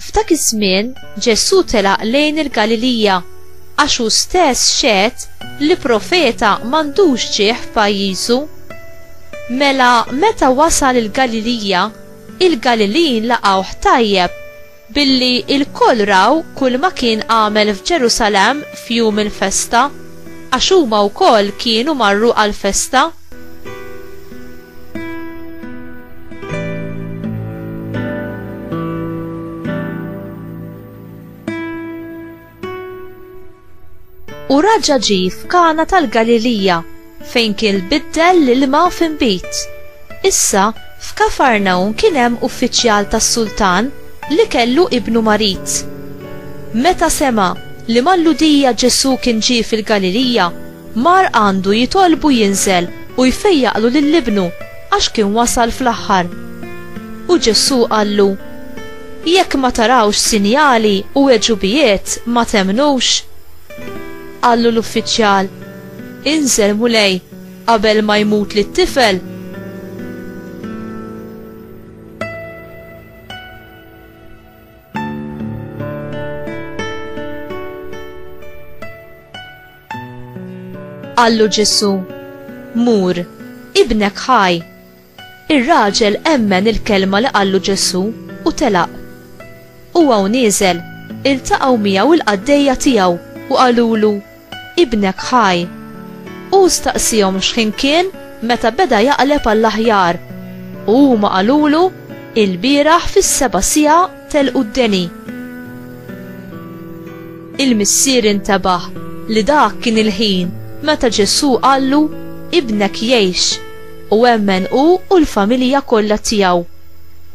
F'dak iż-żmien Ġesù telaq lejn il-Galilija għax hu stess xehed li profeta m'għandux ġieħ f'pajjiżu. Mela meta wasal il-Galilija, il-Galilin laqgħuh tajjeb billi lkoll raw kulma kien għamel f'Ġerusalemm f'jum il-festa, għax huma wkoll kienu marru għall-festa. U raġa ġi f'kana tal-Galilija fejn kien biddel l-ilma f'imbit. Issa, f'Kafarnaun kien hemm uffiċjal tas-sultan li kellu ibnu marid. Meta sema li mal-Ludija Ġesù kien ġie fil-Galilija, Mar għandu jitolbu jinżel u jfejjaqlu lil ibnu, għax kien wasal fl-aħħar. U Ġesù qallu, Jekk ma tarawx sinjali u għeġubijiet, ma temmnux? Qallu l-uffiċjal, Inżel, Mulej, qabel ma jmutli t-tifel. Qallu Ġesu, Mur, ibnek ħaj. Ir-raġel emmen il-kelma li qallu Ġesu u telaq. Huwa u nieżel, iltaqgħu miegħu l-qaddejja tiegħu u qalulu, Ibnek ħaj. U staqsihom x'ħin kien meta beda jaqleb għall-aħjar. U huma qalulu, Il-bieraħ fis-seba' siegħa Telqu d-deni. Il-missier intebaħ li dak kien il-ħin meta Ġesù qallu, Ibnek jgħix, u emmen hu u l-familja kollha tiegħu.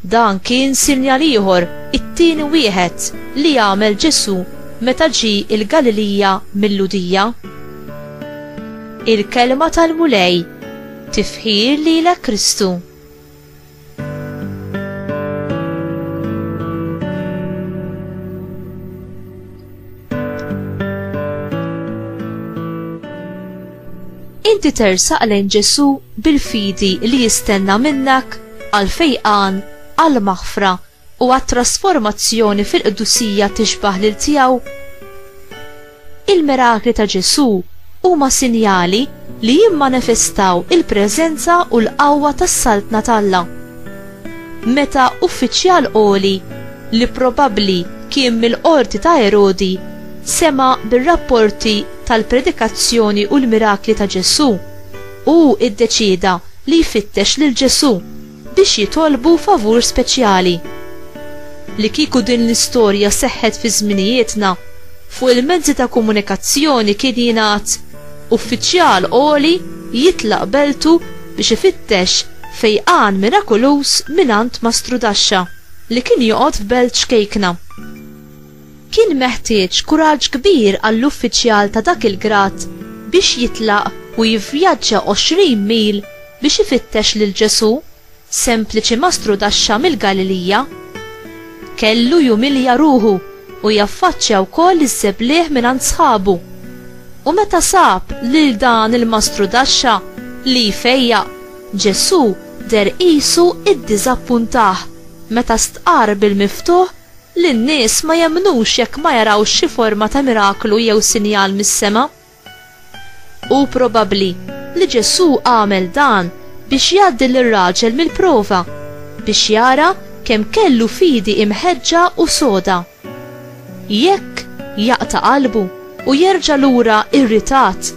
Dan kien sinjal ieħor, it-tieni wieħed, li għamel Ġesù meta ġie l-Galilija mil-Lhudija. Il-Kelma tal-Mulej, Tifħir lilek Kristu! Inti tersaq lejn Ġesu bil-fidi li jistenna minnak għal fejqan, għal maħfra u għat-trasformazzjoni fil-qdusija tixbah lil tiegħu? Il-mirakli ta' Ġesù huma sinjali li jimmanifestaw il-preżenza u l-qawwa tas-Saltna t'Alla. Meta uffiċjal għoli, li probabbli kien mill-qorti ta' Erodi, sema' bir-rapporti tal-predikazzjoni u l-mirakli ta' Ġesù, hu ddeċieda li jfittex lil Ġesù. biex jitolbu favur speċjali. Li kieku din l-istorja seħħet fi żminijietna, fuq il-mezzi ta' komunikazzjoni kien jingħad, Uffiċjal għoli jitlaq beltu biex ifittex fejqan mirakuluż mingħand Mastru Daxxa li kien joqgħod f'belt xkejkna. Kien meħtieġ kuraġġ kbir għall-uffiċjal ta' dak il-grad biex jitlaq u jivvjaġġa 20 mil biex ifittex lil Ġesù, sempliċi mastru taxxa mill-Galilija. Kellu jumilja ruħu u jaffaċċja wkoll iż-żebliegħ mingħand sħabu. U meta sab lil dan il-mastru taxxa li jfejjaq, Ġesù deher qisu iddiżappuntah meta stqarr bil-miftuħ li n-nies ma jemmnux jekk ma jarawx xi forma ta' miraklu jew sinjal mis-sema. Hu probabbli li Ġesù għamel dan biex jgħaddi lir-raġel mill-prova, biex jara kemm kellu fidi imħeġġa u soda. Jekk jaqta' qalbu u jerġa' lura irritat,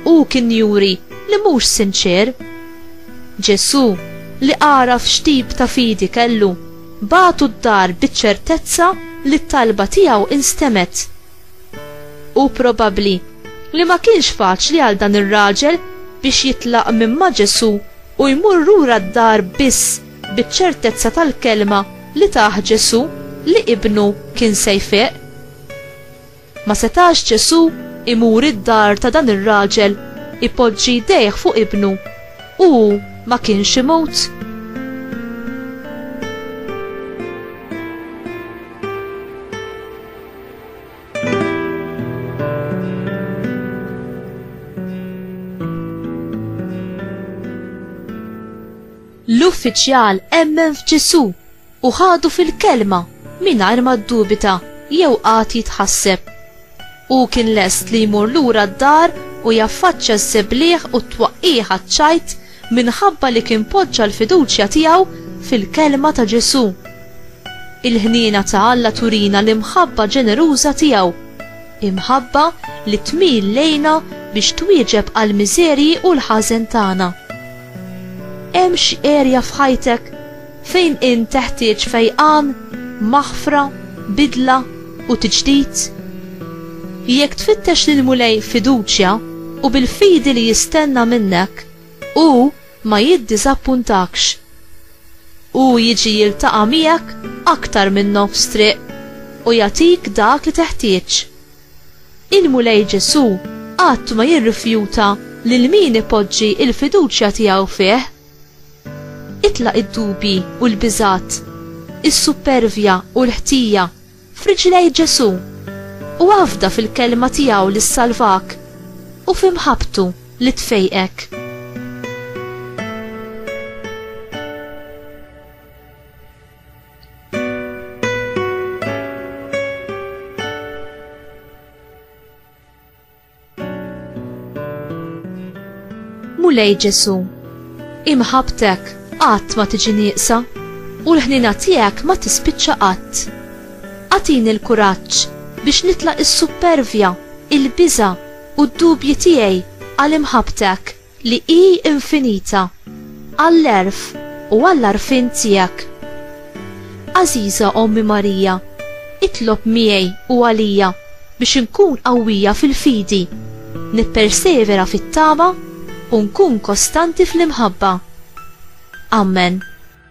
hu kien juri li mhux sinċier. Ġesù, li għaraf x'tip ta' fidi kellu, Bagħtu d-dar biċ-ċertezza li t-talba tiegħu instemet. Hu probabbli li ma kienx faċli għal dan ir-raġel biex jitlaq minn ma' Ġesù u jmur lura d-dar biss biċ-ċertezza tal-kelma li tah Ġesù li ibnu kien se jfiq. Ma setax Ġesù imur id-dar ta' dan ir-raġel, ipoġġi jdejh fuq ibnu, u hu ma kienx imut? l-uffiċjal emmen f'Ġesù u ħadu fil-kelma mingħajr ma ddubita jew qagħad jitħasseb. Hu kien lest li jmur lura d-dar u jaffaċċja ż-żebliegħ u t-twaqqigħ għaċ-ċajt minħabba li kien poġġa l-fiduċja tiegħu fil-kelma ta' Ġesù. Il-ħniena ta' Alla turina l-imħabba ġeneruża tiegħu, imħabba li tmil lejna biex twieġeb għall-miżerji u l-ħażen tagħna. Hemm xi erja f'ħajtek? Fejn int teħtieġ fejqan, maħfra, bidla, u tiġdid? Jekk tfittex lill-Mulej f'fiduċja u bil-fidi li jistenna minnek, hu ma jiddiżappuntakx. Hu jiġi jiltaqa' miegħek aktar minn nofs triq u jagħtik dak li teħtieġ. Il-Mulej Ġesù qatt ma jirrifjuta lil min ipoġġi l-fiduċja tiegħu fih. Itlaq id-dubji u l-biżgħat, is-suppervja u l-ħtija f'riġlejn Ġesù, u afda fil-Kelma tiegħu li ssalvak u f'imħabbtu li tfejqek. Mulej Ġesu, imħabtek qatt ma tiġi nieqsa u l-ħnina tiegħek ma tispiċċa qatt. Atini l-kuraġġ biex nitla' is-suppervja, il-biża' u d-dubji tiegħi għal imħabtek. li hi infinita, għall-għerf u għall-għarfien tiegħek. Għażiża Ommi Marija, itlob miegħi u għalija biex inkun qawwija fil-fidi, nippersevera fit-tama u nkun kostanti fl-imħabba. Amen.